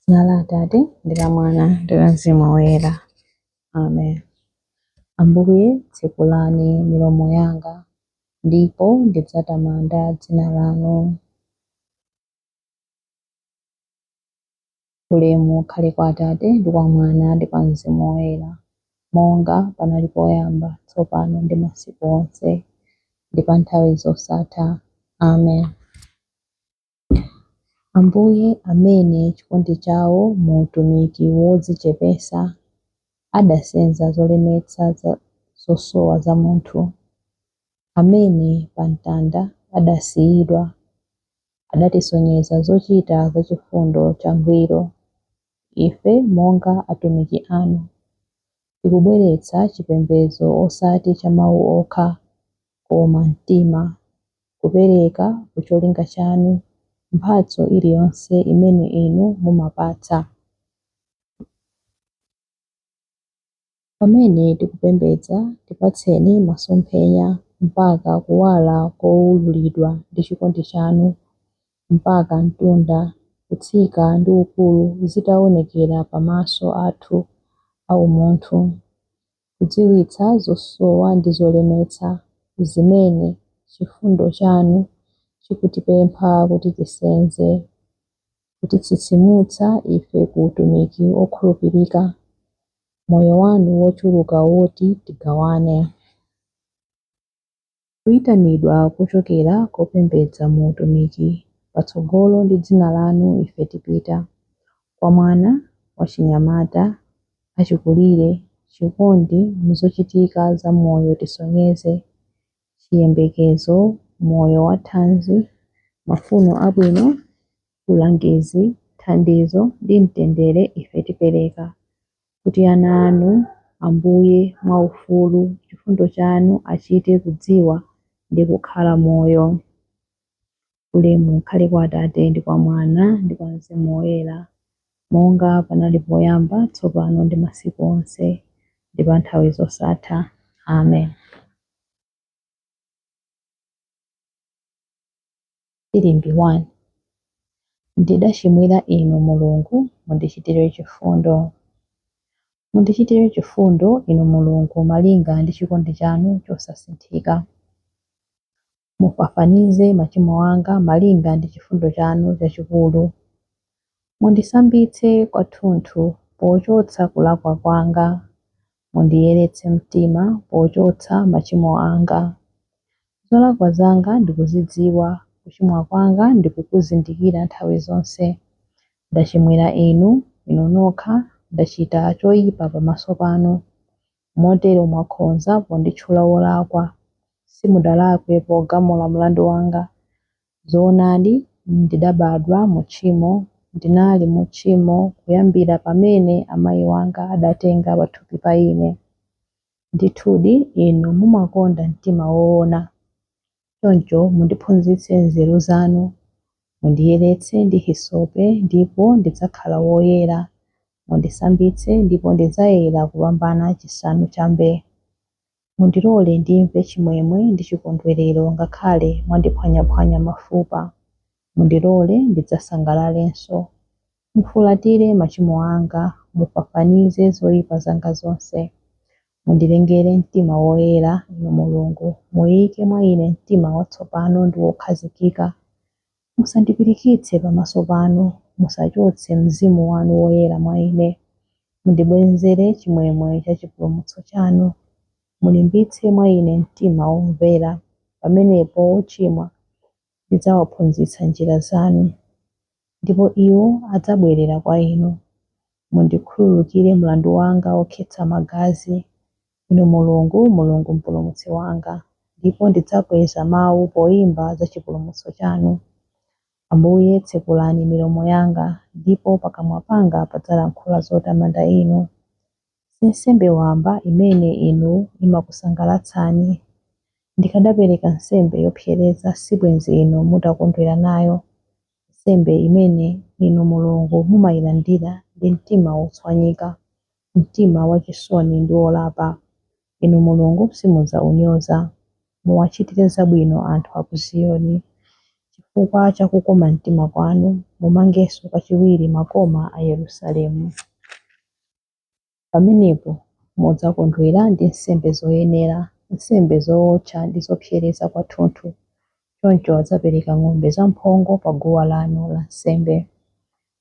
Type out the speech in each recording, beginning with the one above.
Dzina la Atate ndi la Mwana ndi la Mzimu Woyera. Amen. Ambuye, tsekulani milomo yanga, ndipo ndidzatamanda dzina lanu. Ulemu ukhale kwa Atate ndi kwa Mwana ndi kwa Mzimu Woyera, monga panali poyamba, tsopano ndi masiku onse, ndi pa nthawi zosatha. Amen. Ambuye amene chikondi chawo mu utumiki wodzichepetsa adasenza zolemetsa zosowa za munthu, amene pa mtanda adasiyidwa, adatisonyeza zochita za chifundo changwiro, ife monga atumiki anu. tikubweretsa chipembedzo osati cha mawu okha, koma mtima, kupereka ku cholinga chanu mphatso iliyonse imene inu mumapatsa. Pamene tikupembedza, tipatseni masomphenya mpaka kuwala kowululidwa ndi chikondi chanu, mpaka mtunda, kutsika ndi ukulu zitaonekera pa maso athu a umunthu, kudziwitsa zosowa ndi zolemetsa zimene chifundo chanu chikutipempha kuti tisenze, kutitsitsimutsa ife ku utumiki wokhulupirika, moyo wanu wochuluka woti tigawane. Kuyitanidwa kuchokera kopembedza mu utumiki, patsogolo ndi dzina lanu ife tipita, kwa mwana, wachinyamata, achikulire, chikondi mu zochitika za moyo tisonyeze, chiyembekezo, moyo wathanzi, mafuno abwino, ulangizi, thandizo, ndi mtendere ife tipereka, kuti ana Anu, Ambuye, mwaufulu, chifundo Chanu, achite kudziwa ndi kukhala moyo. Ulemu ukhale kwa Atate ndi kwa Mwana ndi kwa Mzimu Woyera, monga panali poyamba, tsopano ndi masiku onse, ndi pa nthawi zosatha. Amen. Filimbi 1 Ndidachimwira Inu, Mulungu, mundichitire chifundo. Mundichitire chifundo, Inu Mulungu, malinga ndi chikondi chanu chosasinthika. Mufafanize machimo anga malinga ndi chifundo chanu chachikulu. Mundisambitse kwathunthu pochotsa kulakwa kwanga, Mundiyeretse mtima pochotsa machimo anga. Zolakwa zanga ndikuzidziwa, kuchimwa kwanga ndikukuzindikira nthawi zonse. Ndachimwira Inu, Inu nokha, ndachita choipa pamaso panu. Motero mwakhonza ponditchula wolakwa. Simudalakwe pogamula mlandu wanga. Zoonadi, ndidabadwa mu tchimo, ndinali mu tchimo kuyambira pamene amayi wanga adatenga pathupi pa ine. Ndithudi Inu mumakonda mtima woona. Choncho mundiphunzitse nzeru zanu. Mundiyeretse ndi hisope ndipo ndidzakhala woyera. Mundisambitse ndipo ndidzayera kupambana chisanu cha mbee. Mundilole ndimve chimwemwe ndi chikondwerero ngakhale mwandiphwanyaphwanya mafupa. Mundilole ndidzasangalalenso. Mufulatire machimo anga, mufafanize zoipa zanga zonse. Mundilengere mtima woyera, Inu Mulungu, muike mwa ine mtima watsopano ndi wokhazikika. Musandipirikitse pamaso panu, musachotse Mzimu wanu Woyera mwa ine. Mundibwenzere chimwemwe cha chipulumutso chanu, mulimbitse mwa ine mtima womvera, pamenepo ochimwa ndidzawaphunzitsa njira zanu, ndipo iwo adzabwerera kwa inu. Mundikhululukire mlandu wanga wokhetsa magazi, Inu Mulungu, Mulungu Mpulumutsi wanga, ndipo ndidzakweza mawu poimba za chipulumutso chanu. Ambuye, tsekulani milomo yanga, ndipo pakamwa panga padzalankhula zotamanda Inu. Si nsembe wamba imene Inu imakusangalatsani. Ndikadapereka nsembe yopsereza sibwenzi Inu mutakondwera nayo, nsembe imene Inu Mulungu mumailandira ndi mtima wotswanyika. mtima wachisoni ndi wolapa. Inu Mulungu, simudzaunyoza. Muwachitire zabwino anthu a ku Ziyoni. Chifukwa cha kukoma mtima kwanu, mumangenso kachiwiri makoma a Yerusalemu. Pamenepo mudzakondwera ndi nsembe zoyenera, nsembe zowotcha ndi zopsereza kwathunthu. Choncho adzapereka ng'ombe zamphongo paguwa lanu lansembe.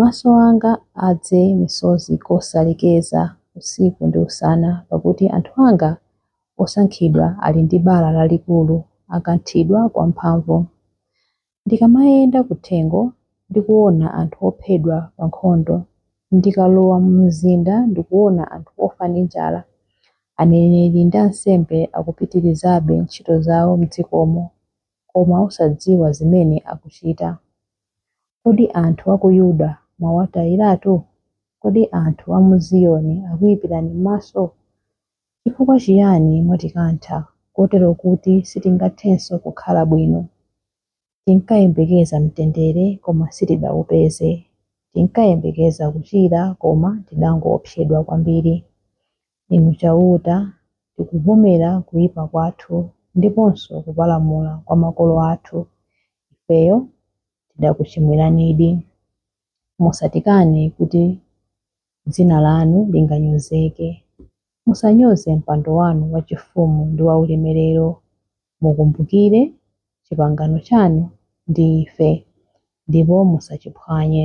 Maso anga adze misozi kosalekeza, usiku ndi usana, pakuti anthu anga osankhidwa ali ndi bala lalikulu, akanthidwa kwamphamvu. Ndikamayenda kuthengo, ndikuona anthu ophedwa pa nkhondo, ndikalowa mu mzinda ndikuona anthu ofa ndi njala, aneneri ndi ansembe akupitirizabe ntchito zawo m'dzikomo. koma osadziwa zimene akuchita. Kodi anthu a ku Yuda mwawatayiratu? Kodi anthu a mu Ziyoni akuipirani m'maso? Chifukwa chiyani mwatikantha kotero kuti sitingathenso kukhala bwino? Tinkayembekeza mtendere koma sitidaupeze. Tinkayembekeza kuchira koma tidangoopsedwa kwambiri. Inu Chauta, tikuvomera kuipa kwathu ndiponso kupalamula kwa makolo athu. Ifeyo tidakuchimwiranidi. Musatikane kuti dzina lanu linganyozeke. Musanyoze mpando wanu wachifumu ndi waulemerero. Mukumbukire chipangano chanu ndi ife, ndipo musachiphwanye.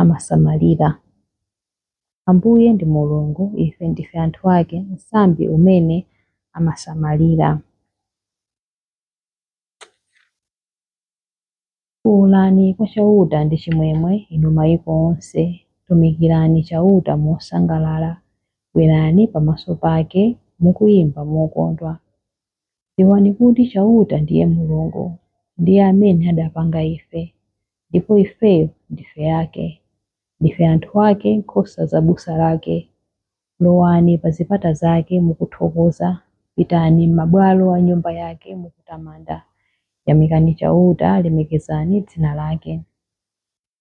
amasamalira. Ambuye ndi Mulungu, ife ndife anthu ake, msambi umene amasamalira. Fuulani kwa Chauta ndi chimwemwe, inu maiko onse, tumikirani Chauta mosangalala, bwerani pamaso pake mukuimba mokondwa. Dziwani kuti Chauta ndiye Mulungu, ndiye amene adapanga ife, ndipo ifeyo ndife ake. Ndife anthu ake, nkhosa za busa lake. Lowani pa zipata zake mukuthokoza, pitani m'mabwalo a Nyumba yake mukutamanda. Yamikani Chauta, lemekezani dzina lake.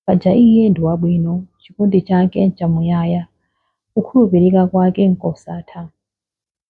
Paja Iye ndi wabwino, chikondi chake nchamuyaya, kukhulupirika kwake nkosatha.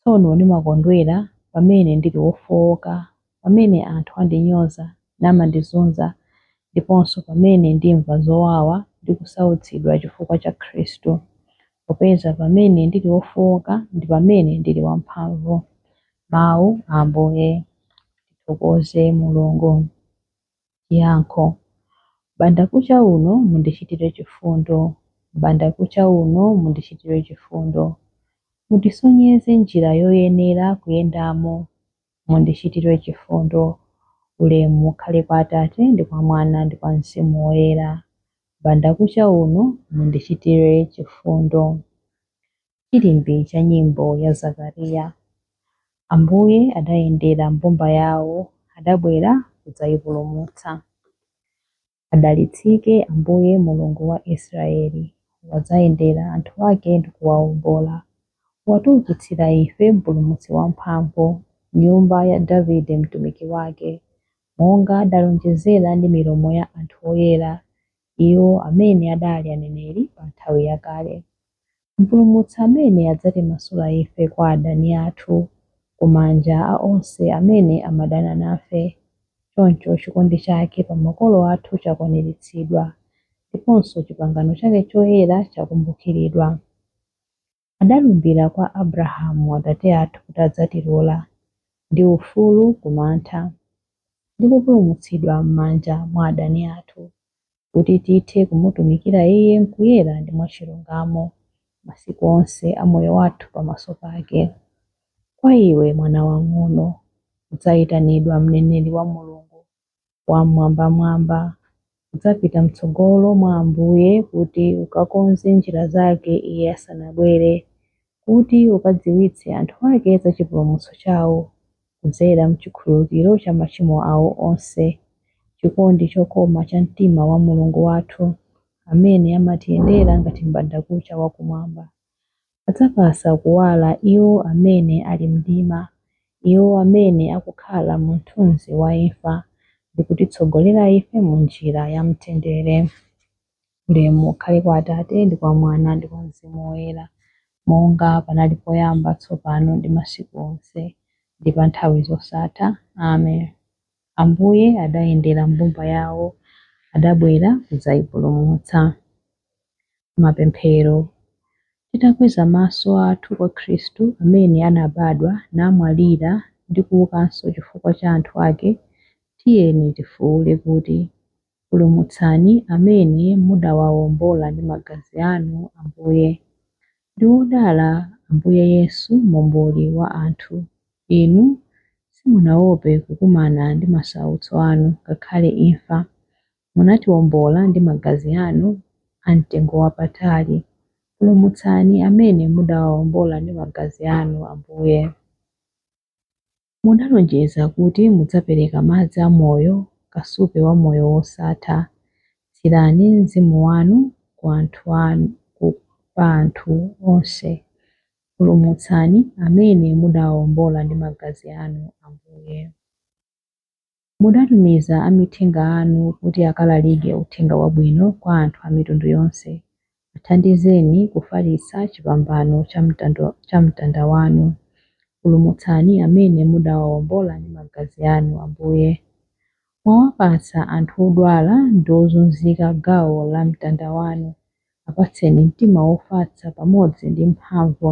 Tsono ndimakondwera pamene ndili wofooka, pamene anthu andinyoza namandizunza ndiponso pamene ndimva zowawa ndi kusautsidwa chifukwa cha Khristu. Popeza pamene ndili wofooka ndi pamene ndili wamphamvu. Mawu a Ambuye. Tithokoze Mulungu. Yankho. Mbandakucha uno mundichitire chifundo, mbandakucha uno mundichitire chifundo. Mundisonyeze njira yoyenera kuyendamo, mundichitire chifundo. Ulemu ukhale kwa Atate ndi kwa Mwana ndi kwa Mzimu Woyera. Mbandakucha uno mundichitire chifundo. chilimbi cha nyimbo ya Zakariya. Ambuye adayendera mbumba yawo, adabwera kudzayipulumutsa. Adalitsike Ambuye Mulungu wa Israyeli, wadzayendera anthu ake ndi kuwawombola. Watiwukitsira ife Mpulumutsi wamphamvu, m'nyumba ya Davide mtumiki wake, monga adalonjezera ndi milomo ya anthu oyera, iwo amene adali aneneri pa nthawi yakale. Mpulumutsi amene adzatimasula ife kwa adani athu, ku manja a onse amene amadana nafe. Choncho chikondi chake pa makolo athu chakwaniritsidwa, ndiponso chipangano chake choyera chakumbukiridwa. adalumbira kwa Abrahamu atate athu kuti adzatilola, ndi ufulu ku mantha, ndi kupulumutsidwa m'manja mwa adani athu, kuti tithe kumutumikira Iye m'kuyera ndi mwachilungamo, masiku onse a moyo wathu pamaso pake. Kwa iwe, mwana wang'ono, udzaitanidwa mneneri wa Mulungu Wam'mwambamwamba. Udzapita m'tsogolo mwa Ambuye kuti ukakonze njira zake Iye asanabwere, kuti ukadziwitse anthu ake za chipulumutso chawo, kudzera m'chikhululukiro cha machimo awo onse. Chikondi chokoma cha mtima wa Mulungu wathu, amene amatiyendera ngati m'bandakucha wa kumwamba. adzapatsa kuwala iwo amene ali m'mdima, iwo amene akukhala mu mthunzi wa imfa, ndi kutitsogolera ife mu njira ya mtendere. Ulemu ukhale kwa Atate, ndi kwa Mwana, ndi kwa Mzimu Woyera, monga panali poyamba, tsopano, ndi masiku onse, ndi pa nthawi zosatha. Amen. Ambuye adayendera mbumba yawo, adabwera kudzayipulumutsa. Mapemphero Titakweza maso athu kwa Khristu amene anabadwa, namwalira ndi kuukanso chifukwa cha anthu ake, tiyeni tifuule kuti, Pulumutsani amene mudawawombola ndi magazi anu, Ambuye. Ndi odala Ambuye Yesu, Momboli wa anthu. Inu simunawope kukumana ndi masautso anu, ngakhale imfa. Munatiwombola ndi magazi anu amtengowapatali. Pulumutsani amene mudawawombola ndi magazi anu, Ambuye. Munalonjeza kuti mudzapereka madzi a moyo, kasupe wa moyo wosatha. Tsirani mzimu wanu pa anthu onse. Pulumutsani amene mudawawombola ndi magazi anu, Ambuye. Mudatumiza amithenga anu kuti akalalike Uthenga Wabwino kwa anthu a mitundu yonse. Athandizeni kufalitsa chipambano cha mtanda wanu. Pulumutsani amene mudawawombola ndi magazi anu, Ambuye. Mwawapatsa anthu odwala ndi ozunzika gawo la mtanda wanu. Apatseni mtima wofatsa pamodzi ndi mphamvu.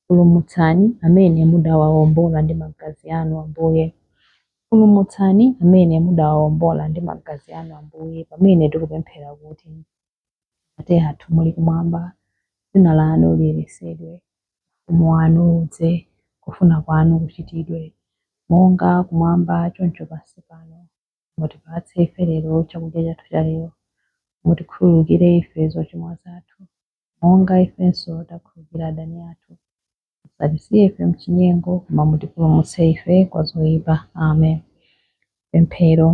Pulumutsani amene mudawawombola ndi magazi anu, Ambuye. Pulumutsani amene mudawawombola ndi magazi anu, Ambuye, pamene tikupemphera kuti, Atate athu muli kumwamba, dzina lanu liyeretsedwe, ufumu wanu udze, kufuna kwanu kuchitidwe, monga kumwamba choncho pansi pano. Mutipatse ife lero chakudya chathu chalero. Mutikhululukire ife zochimwa zathu. monga ifenso takhululukira adani athu. Musatisiye ife m'chinyengo, koma mutipulumutse ife kwa zoipa. Amen. Pemphero.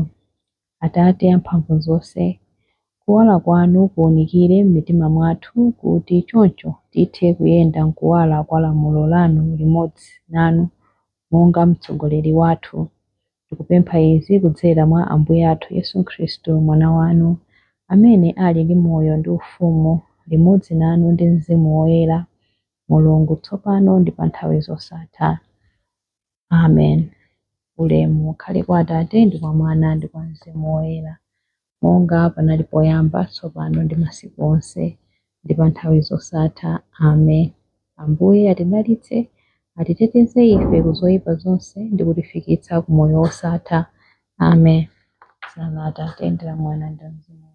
Atate amphamvuzonse, kuwala kwanu kuunikire m'mitima mwathu kuti choncho tithe kuyenda m'kuwala kwa lamulo lanu limodzi nanu monga mtsogoleri wathu. Tikupempha izi kudzera mwa Ambuye athu Yesu Khristu, Mwana wanu, amene ali ndi moyo ndi ufumu limodzi nanu ndi mzimu woyera, Mulungu, tsopano ndi pa nthawi zosatha. Amen. Ulemu ukhale kwa Atate, ndi kwa Mwana, ndi kwa Mzimu Woyera. monga panali poyamba, tsopano ndi masiku onse, ndi pa nthawi zosatha. Amen. Ambuye atidalitse, atiteteze ife ku zoyipa zonse ndi kutifikitsa ku moyo wosatha. Amen. Dzina la Atate ndi la Mwana ndi la Mzimu